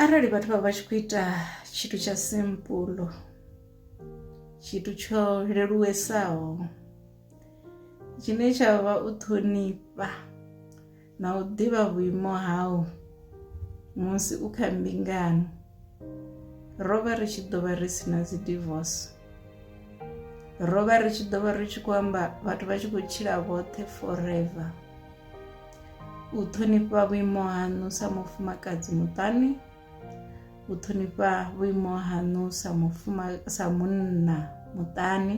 arali vhathu vha vha tshi khou ita tshithu tsha simpulo tshithu tsho leluwesaho tshine tsha vha u ṱhonifha na u ḓivha vhuimo hau musi u kha mbingano ro vha ri tshi ḓo vha ri si na dzi divorce ro vha ri tshi ḓo vha ri tshi khou amba vhathu vha tshi khou tshila vhoṱhe forever u ṱhonifha vhuimo haṋu sa mufumakadzi muṱani u ṱhonifha vhuimo haṋu sa mufuma sa munna muṱani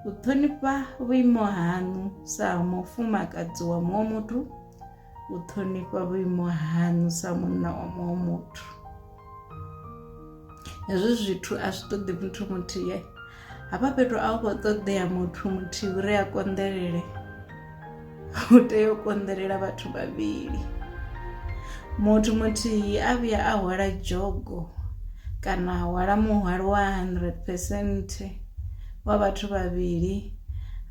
u ṱhonifha vhuimo haṋu sa mufumakadzi wa muṅwe muthu u ṱhonifha vhuimo haṋu sa munna wa muṅwe muthu hezwi zwithu a zwi ṱoḓi muthu muthihi hafha fhethu a u khou ṱoḓea muthu muthihi uri a konḓelele u tea u konḓelela vhathu vhavhili muthu muthihi a vhuya a hwala dzhogo kana a hwala muhwalo wa 100 percent wa vhathu vhavhili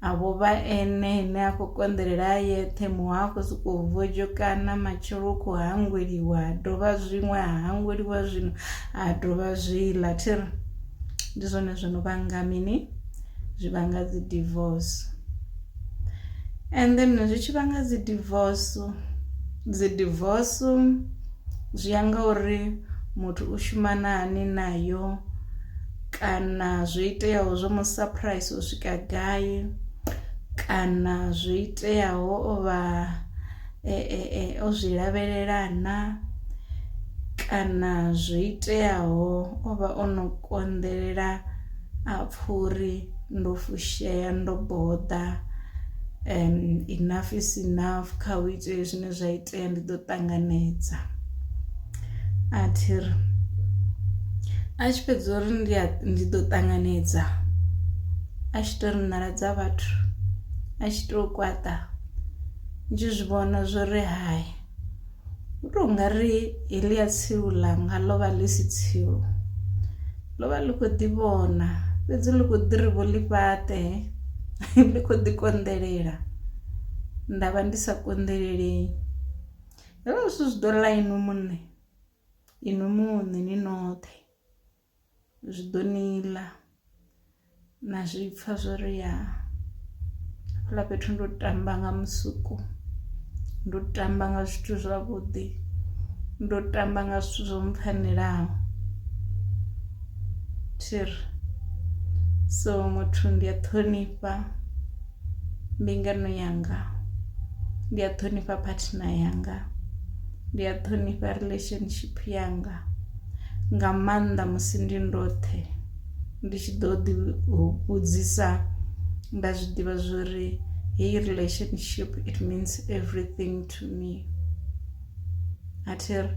a vho vha ene ine a khou konḓelela a yeṱhe muho a khou sokou vhojokana matshelo u khou hangweliwa ha dovha zwiṅwe ha hangweliwa zwino ha dovha zwiḽa thiri ndi zwone zwo no vhanga mini zwi vhanga dzi divorce and then zwi tshi vhanga dzi divorce dzi divorce zwi ya nga uri muthu u shuma na hani nayo kana zwo iteaho zwo mu surprise u swika gai kana zwo iteaho o vha o zwi lavhelela na kana zwo iteaho o vha o no konḓelela a pfha uri ndo fushea ndo boḓa enough is enough kha hu itee zwine zwa itea ndi ḓo ṱanganedza. A thi ri, a tshi fhedza uri ndi a ndi ḓo ṱanganedza, a tshi to ri nḓala dza vhathu a tshi to kwaṱa ndi tshi zwi vhona zwori hai hu to ngari heḽia tsilu ḽanga ḽo vha ḽi si tsilu, ḽo vha ḽi kho ḓi vhona fhedzi ḽi kho ḓi ri vho ḽi fhaṱe ḽi kho ḓi konḓelela nda vha ndi sa konḓelelei. Hezwo zwithu zwi ḓo ḽa inwi muṋe, inwi muṋe ni noṱhe zwi ḓo ni ḽa na zwi pfha zwo ri ya hafhaḽa fhethu ndo tamba nga musuku, ndo tamba nga zwithu zwavhuḓi, ndo tamba nga zwithu zwo mpfhanelaho thi ri so muthu ndi a ṱhonifha. mbingano yanga ndi a ṱhonifha partner yanga ndi a ṱhonifha relationship yanga nga maanḓa musi ndi ndoṱhe ndi tshi ḓo ḓi vhudzisa nda zwi ḓivha zwori heyi relationship it means everything to me a thi ri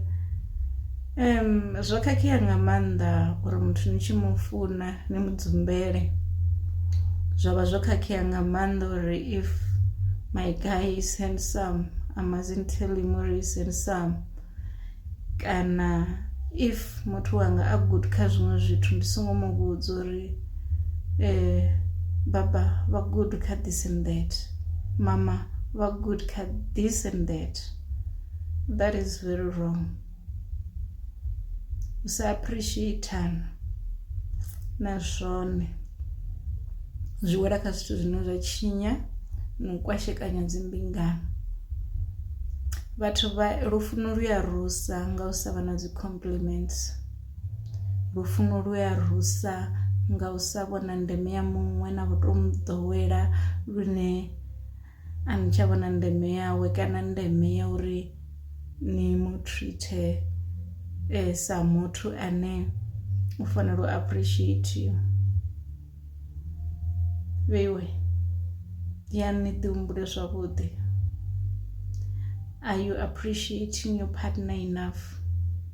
zwo khakhea nga maanḓa uri muthu ni tshi mu funa ni mu dzumbele zwa vha zwo khakhea nga maanḓa uri if my guy is handsome I mustn't tell him uri is handsome kana if muthu wanga a good kha zwiṅwe zwithu ndi songo mu vhudza uri eh baba vha good kha this and that mama vha good kha this and that. that is very wrong u sa appreciatana na zwone zwi wela kha zwithu zwine zwa tshinya na u kwashekanya dzimbingano vhathu vha lufuno lu ya rusa nga u sa vha na dzi compliments lufuno lu ya rusa nga u sa vhona ndeme ya muṅwe na vhuto mu ḓowela lune a ni tsha vhona ndeme yawe kana ndeme ya uri ni mu treater sa muthu ane u fanela u appreciatiwa. Vheiwe yani ni ḓi humbule zwavhuḓi are you appreciating your partner enough.